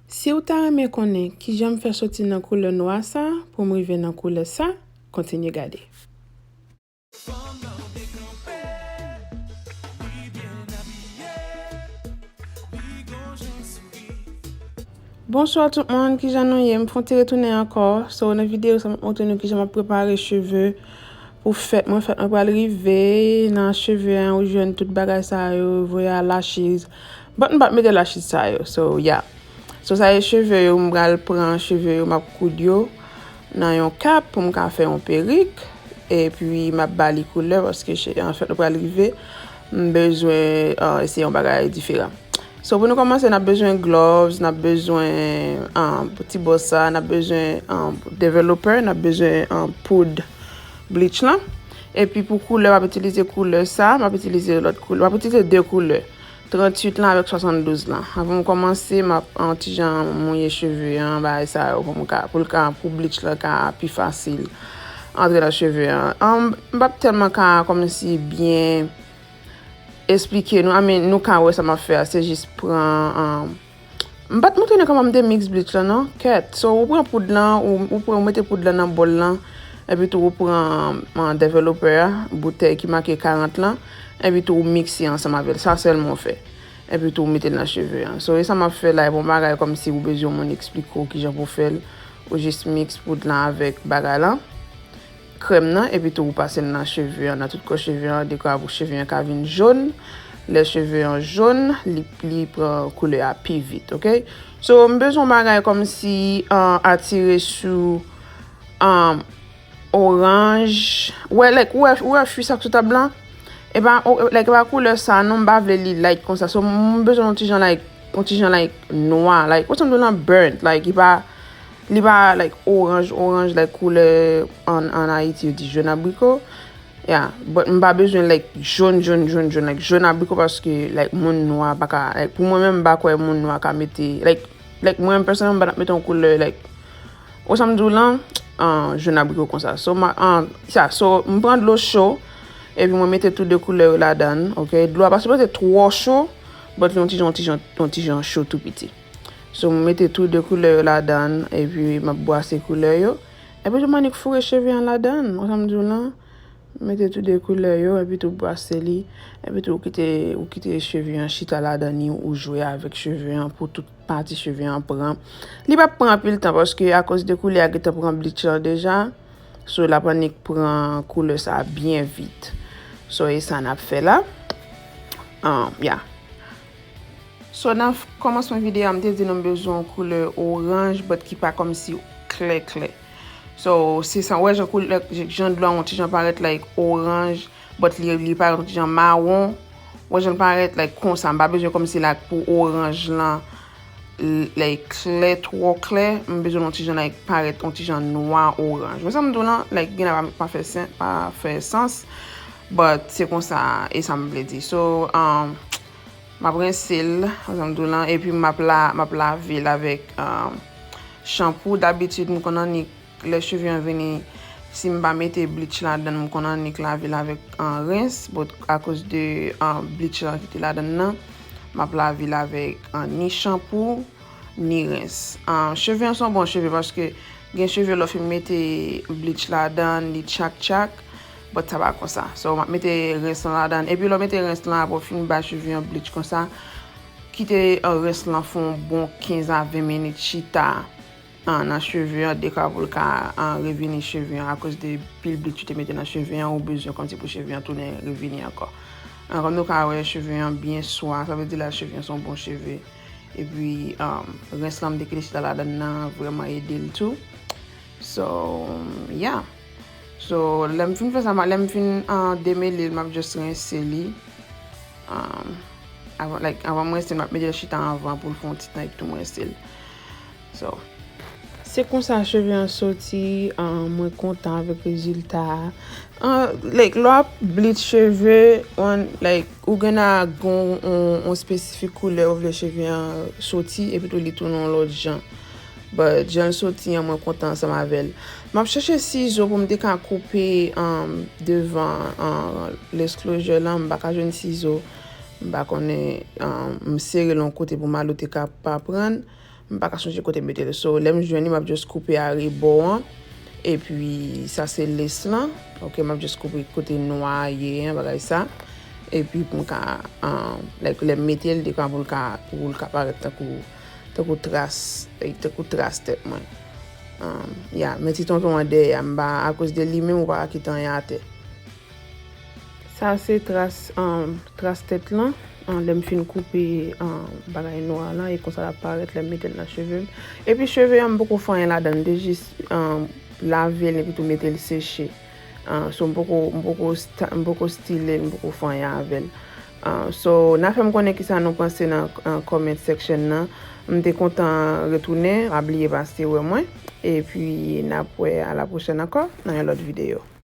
Siw ta renmen konnen kijan m fè soti nan koulè nwa sa poum rive nan koulè sa kontinye gade. Bonsoir tout moun kijan nou ye m fon ti retounen ankò so nan video sa map montre nou kijan map prepare cheve pou fèt mwen fèt mwen pral rive nan cheve an ou jwenn tout bagay sa yo voye al achiz But m pat mete la chit sa yo so yeah. So sa e cheve yo m pral pran cheve yo map koud yo nan yon kap pou m ka fè yon perik epi map ba li koulè paske fèt la pral rive m bezwen eseye yon bagay diferan. So pou nou komanse nap bezwen gloves, nap bezwen ti bò sa, nap bezwen developer, nap bezwen poud bleach lan epi pou koulè wap itilize koulè sa, wap itilize lòt koulè, wap itilize 2 koulè 38 lan avèk 72 lan. Avan m kòmanse map yon ti jan mouye cheve an bagay sa yo pou m ka pou l ka pou bleach lan ka pi fasil antre nan cheve an. An m pap tèlman ka kòmanse byen esplike nou a men nou ka wè sa map fè a se jis pran an. M pat montre nou kòman m te mix bleach lan non kèt so ou pran poud lan ou pran ou mete poud lan nan bòl lan epi tou ou pran developè a boutèy ki make 40 lan epi tou ou mikse ansanm avèl sa sèlman ou fè epi tou ou metel nan cheve an so e sa map fè la e bon bagay kòmsi ou bezwen moun eksplike w kijan pou fèl ou jis mix poud lan avèk bagay lan. krèm nan epi tou ou pase l nan cheve an nan tout kò cheve an dekwa pou cheve an ka vin jon lè cheve an jon li pran koulè a pi vit ok so m bezwen yon bagay kòmsi atire sou oranj wè like ou wè fwi sa k sou tab lan e pa like e pa koulè sa non m pa vle li like konsa so m bezwen yon ti jan like yon ti jan like nwa like wè sa m di w lan burnt like li pa. Li pa like oranj oranj like koulè an ayiti yo di jòn abriko. Ya, but m pa bezwen like jòn jòn jòn jòn like jòn abriko paske like moun nwa pa ka like pou mwen menm m pa kwè moun nwa ka mete like like mwen menm pèsonèlman m pa tap mete yon koulè like ou sa m di w lan an jòn abriko konsa so ma an sa so m pran dlo cho epi mwen mete tou 2 koulè yo ladan ok dlo a pa sipoze twò cho but yon ti jan yon ti jan yon ti jan cho tou piti. So mwen mete tou 2 koulè yo ladann epi map bwase koulè yo. Epi tou m annik foure cheve an ladann. Wè sam diw lan? Mete tou 2 koulè yo epi tou bwase li. Epi tou ou kite ou kite cheve an chita ladann li ou jwe avèk cheve an pou tout pati cheve an pran. Li pap pran anpil tan paske akoz de koulè a gentan pran bleach lan deja. So lap annik pran koulè sa byen vit. So e sa nap fè la. An ya. So nan kòmansman video a m te di nou m bezwen yon koulè oranj but ki pa kòmsi klè klè. So se sa, ou wè jan koulè, jan dlo a yon ti jan parèt like oranj but li parèt yon ti jan mawon. Ou wè jan l parèt like konsa, m pa bezwen kòmsi like pou oranj lan. Lè e klè, twò klè, m bezwen l yon ti jan like parèt yon ti jan nwa oranj. Wè sa m di w lan? Like gen la pa fè sens, pa fè sans but se konsa e sa m vle di. So, m ap rense l, wè sa m di w lan, epi m ap la, m ap lave l avèk shampoo. Dabitid m konn annik. Lè cheve an vini si m pa mete bleach ladan l m konn annik lave l avèk rens but akoz de bleach lan ki te ladan l lan m ap lave l avèk ni chanpou ni rens. Cheve an se yon bon cheve paske gen cheve lè w fin mete bleach ladan l li tchak tchak but sa pa konsa so m ap mete rens lan ladan l epi lè w mete rens lan aprè w fin bay cheve an bleach konsa kite rens lan fè yon bon 15 a 20 minit chita Nan cheve an deka poul ka revini cheve an akoz de pil blik u te mete nan cheve an ou bezwen konti pou cheve an tounen revini ankò kòm nou ka wè cheve an byen swa sa vle di la cheve an son bon cheve epi rens lan m te kite chita ladann nan vreman edel tou so ya so lèm fin fè sa lèm fin demelel map just rense li avan m rense l map mete chita anvan poul fon ti tan epi tou m rense l. So Se konsa cheve an soti ahh mwen kontan avèk rezilta a ahh like lè wap bleach cheve on like ou gen a gon on espesifik koulè ou vle cheve an soti epi tou li tounen on lòt jan but janl soti an mwen kontan ansanm avèl map chèche sizo poum te ka koupe ahh devan ahh lace closure lan mpa ka jwenn sizo mpa konnen ahh m sere l on kote pou Malo te ka pa prann. M paka sonje kote m mete l so lè m jwenn li m ap just koupe arebò an epi sa se lace lan ok m ap just koupe kote nwa a ye an bagay sa epi pou m ka like lè m mete l dekwa pou l ka pou l ka parèt tankou tankou tras tankou tras tèt mwen ya men ti tonton an dèyè a m pa akoz de li menm ou pa ka kite anyen atè. Sa se tras tras tèt lan lèm fin koupe bagay nwa lan e konsa lap parèt lèm metel nan chevem epi cheve an m poko fè anyen ladann m te jis lavel epi tou metel seche so m poko m poko m poko stilel m poko fè anyen avèl so na fèm konnen kisa nou panse nan comment section nan m te kontan retounen pa bliye pase wè mwen epi nap wè a la pwochèn ankò nan yon lòt videyo.